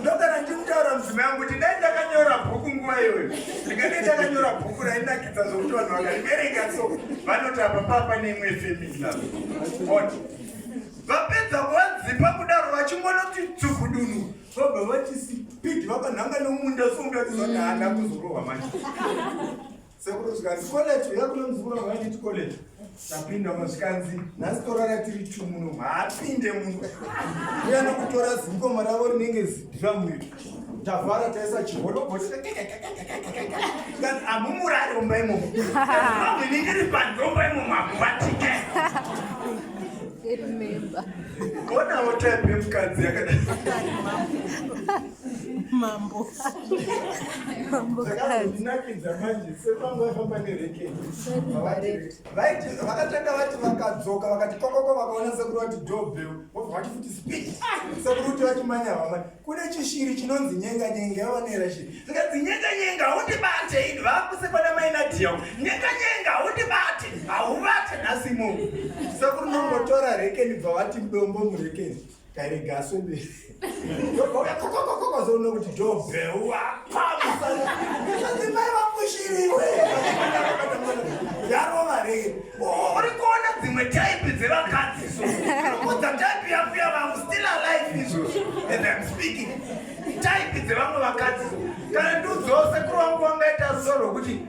Ndogara ndimutaura mudzimai yangu kuti dai ndakanyora bhuku nguva iyoyo ndingadai ndakanyora bhuku rainakidza zvokuti vanhu vakariverenga so vanoti apa papa neimwe femila ot vapedza kuvadzipa kudaro vachingonoti tsukudunu vobva vachisipidi vakanhanga nemumunda somuda tizoti handa kuzorohwa manje Sekuru zvikanzi college uya kuno muzukuru wangu ainditi college. Tapinda mo zvikanzi nhasi torara tiri two muno haapinde muno. Uya nokutora zimboma ravo rinenge zidhiramu iri. Tavhara taisa chiholoboti. Zvikanzi hamumurari mumba imomo. Mhambo inenge iri pandomba imomo hamuvatike. Remember. Konawo type yemukadzi yakadai. Mambo. zvakazonakidza manje sefambo vaifamba nerekeni vakatanga vati vakadzoka vakati kokoko vakaona sekuru vati dobel vobva vati futi speed sekuru kuti vachimanya vamwe kune chishiri chinonzi nyenga nyenga yaonera shiri zikanzi nyenga nyenga haundibate ini vakusekwana mainadiya nyenga nyenga haundibate haubate nhasi munhu sekuru nongotora rekeni bva vati dombo murekeni Tairega aswende. Ndobvauya kokokokoko zoona kuti dobheuwa pamusana. Ndizvati mai vamushiriwe. Yarova rei. Oh, uri kuona dzimwe type dzevakadzi so. Unokudza type yako yavangu still alive izvo. And I'm speaking. Type dzevamwe vakadzi so. Kana ndiudzose kuri wangu wangaita soro kuti